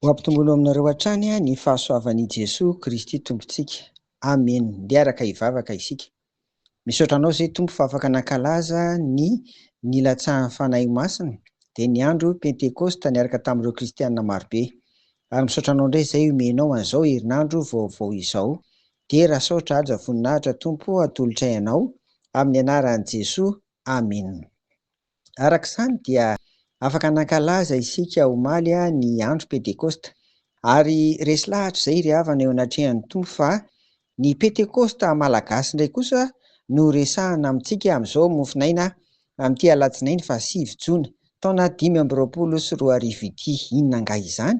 Ho ampitomboina aminareo hatrany ny fahasoavan'i Jesoa Kristy Tompontsika. Amen. Ndeha araka hivavaka isika. Misaotra Anao Zay Tompo fa afaka nankalaza ny nilatsahan'ny Fanahy Masina, dia ny andro Pentekosta niaraka tamin'ireo Kristiana marobe. Ary misaotra Anao indray Zay omenao an'izao herinandro vaovao izao. Dera saotra haja voninahitra Tompo atolotray anao amin'ny anaran'i Jesoa Amin. Arak'izany dia afaka nankalaza isika omaly ny andro pentekosta ary resy lahatra izay ry havana eo anatrehan'ny Tompo fa ny pentekosta malagasy indray kosa no resahana amintsika amin'izao mofonaina amin'ity alatsinainy faha sivy jona taona dimy amby roapolo sy roa arivo ity, inona angaha izany?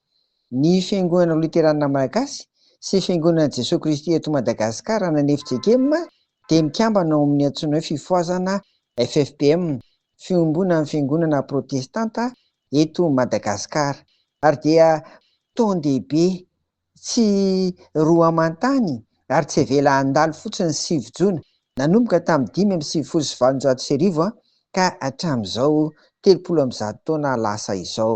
Ny Fiangonana Loterana Malagasy sy Fiangonana Jesoa Kristy eto Madagasikara ana ny FJKM dia mikambana ao amin' ny antsoina hoe Fifohazana FFPM, Fiombonan'ny Fiangonana Protestanta eto Madagasikara, ary dia tondehibe tsy roa aman-tany ary tsy avela handalo fotsiny ny sivy jona, nanomboka tamin'ny dimy amby sivifolo sy valonjato sy arivo ka hatramin'izao telopolo amby zato taona lasa izao.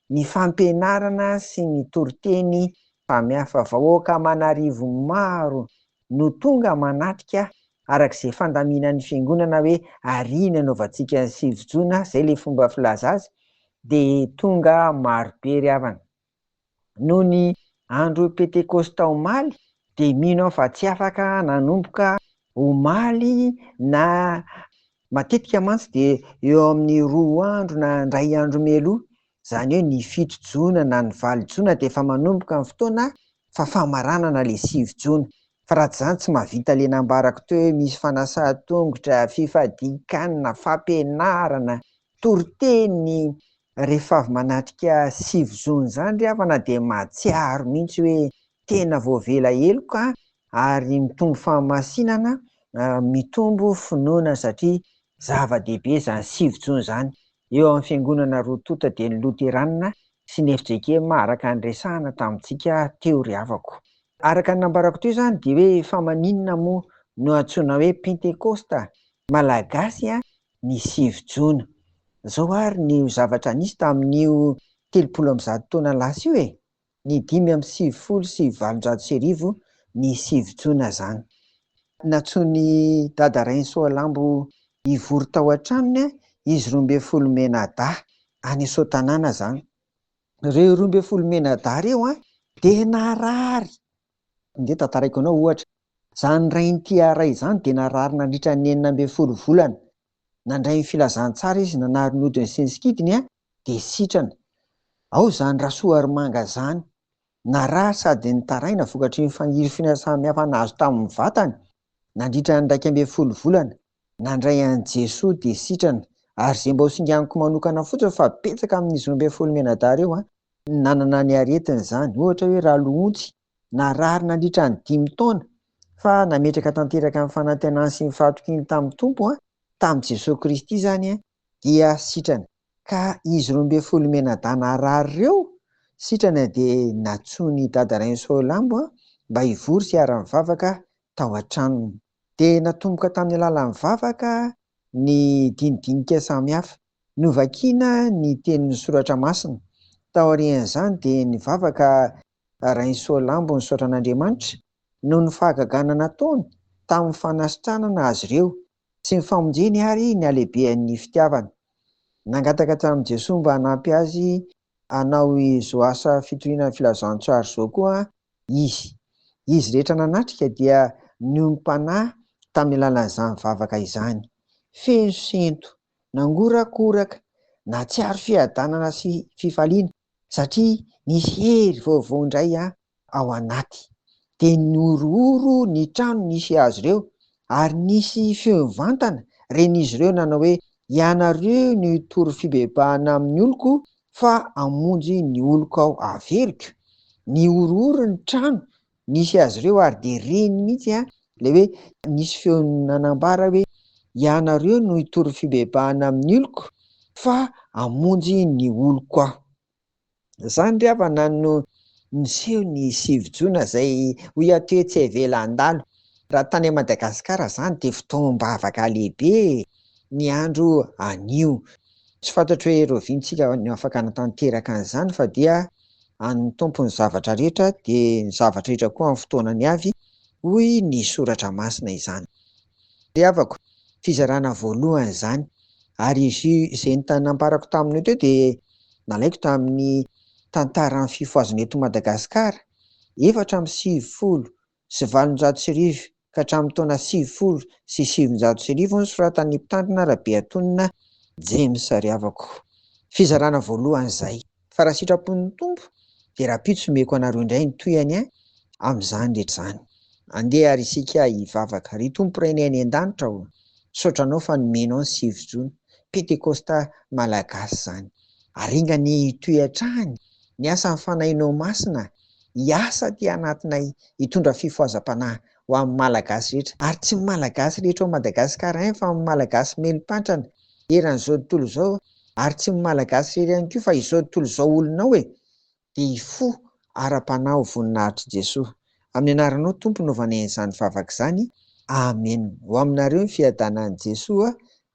ny fampianarana sy ny toriteny mpamiafa vahoaka aman'arivo maro no tonga manatrika araka izay fandaminan'ny fiangonana hoe ary ny anaovantsika ny sivy jona izay ilay fomba filaza azy dia tonga marobe ry havana noho ny andro pentekosta omaly dia mino aho fa tsy afaka nanomboka omaly na Matetika mantsy dia eo amin'ny roa andro na indray andro mialoha, izany hoe ny fito jona na ny valo jona dia efa manomboka ny fotoana fa famaranana ilay sivy jona. Fa raha tsy izany tsy mahavita ilay nambarako teo hoe misy fanasan-tongotra, fifadian-kanina, fampianarana, toriteny, Rehefa avy manatrika sivy zony zany ry havana dia mahatsiaro mihitsy hoe tena voavela heloka ary mitombo fahamasinana, mitombo finoana satria zava-dehibe zany sivy jona zany. Eo amin'ny fiangonana roa tonta dia ny loteranina sy ny fjkm araka ny resahana tamintsika teo ry havako. Araka ny nambarako teo zany dia hoe fa maninona moa no antsoina hoe pentekosta malagasy ny sivy jona. Zao ary ny ho zavatra nisy tamin'io telopolo amby zato taona lasa io e! Ny dimy amby sivifolo sy valonjato sy arivo ny sivy jona zany. Nantsoin'i Dada Rainisoalambo hivory tao an-tranony izy roa ambin'ny folo mianadahy, any Soatanàna zany. Reo roa ambin'ny folo mianadahy reo dia narary Andeha tantaraiko anao ohatra. Izany rain'ity Ara izany dia narary nandritra ny enina ambin'ny folo volana. Nandray ny filazantsara izy nanary ny hodiny sy ny sikidiny an, dia sitrana. Ao izany Rasoarimanga izany. Narary sady nitaraina vokatry ny fanirifiana samihafa nahazo tamin'ny vatany nandritra ny iraika ambin'ny folo volana. Nandray an'i Jesoa dia sitrana. Ary zay mba ho singaniko manokana fotsiny fa betsaka amin'izy roa ambin'ny folo mianadahy reo an, no nanana ny aretiny zany, ohatra hoe raloontsy, narary nandritra ny dimy taona, fa nametraka tanteraka ny fanantenany sy ny fahatokiny tamin'ny Tompo an, tamin'i Jesoa Kristy zany an, dia sitrana. Ka izy roa ambin'ny folo mianadahy narary reo, sitrana dia nantsoin'i Dada Rainsoa Lambo an, mba hivory sy hiara-mivavaka tao an-tranony. dia natomboka tamin'ny alalan'ny vavaka ny dinidinika samihafa. Novakina ny tenin'ny soratra masina. Taorian'izany dia ny vavaka Rainsoalambo nisaotra an'Andriamanitra noho ny fahagagana nataony tamin'ny fanasitranana azy ireo sy ny famonjeny ary ny halehibehan'ny fitiavany. Nangataka tamin'i Jesoa mba hanampy azy hanao izao asa fitoriana ny Filazantsara izao koa izy. Izy rehetra nanatrika dia niombom-panahy tamin'ny alalan'izany vavaka izany. Feno sento, nangorakoraka, nahatsiaro fiadanana sy fifaliana satria nisy hery vaovao indray ao anaty. Dia nihorohoro ny trano nisy azy ireo, ary nisy feo mivantana ren'izy ireo nanao hoe, Ianareo no hitory fibebahana amin'ny oloko, fa hamonjy ny oloko aho haveriko. Nihorohoro ny trano nisy azy ireo, ary dia reny mihitsy ilay hoe nisy feo nanambara hoe, Ianareo no hitory fibebahana amin'ny oloko, fa hamonjy ny oloko aho. Zany ry havana no niseho ny sivy jona zay hoy aho teo tsy avela handalo. Raha tany Madagascar zany de fotoam-bavaka lehibe ny andro anio. Tsy fantatro hoe rovintsika no afaka hanatanteraka an'izany fa dia an'ny Tompo ny zavatra rehetra de ny zavatra rehetra koa amin'ny fotoanany avy hoy ny soratra masina izany. Ry havako, fizarana voalohany izany, ary izy io izay entana nambarako taminao teo dia nalaiko tamin'ny Tantaran'ny Fifohazana eto Madagasikara, efatra amby sivifolo sy valonjato sy arivo ka hatramin'ny taona sivifolo sy sivinjato sy arivo nosoratan'ny mpitandrina Rabeatonina James ry havako. Fizarana voalohany izay. fa raha sitrapon'ny Tompo dia rahampitso omeko anareo indray ny tohiny an, amin'izany rehetra izany. Andeha ary isika hivavaka. Ry Tompo Rainay any an-danitra ô, misaotra Anao fa nomenao ny sivy jona, Pentekosta Malagasy izany. Aringany hitohy hatrany ny asan'ny Fanahinao Masina hiasa aty anatinay hitondra fifohazam-panahy ho amin'ny Malagasy rehetra, ary tsy ny Malagasy rehetra ao Madagasikara ihany fa amin'ny Malagasy meli-pantrana eran'izao tontolo izao, ary tsy ny Malagasy irery ihany koa fa izao tontolo izao olona ao e! dia hifoha ara-panahy ho voninahitr'i Jesoa. Amin'ny anaranao Tompo no vanen'izany vavaka izany, Amen. Ho aminareo ny fiadanan'i Jesoa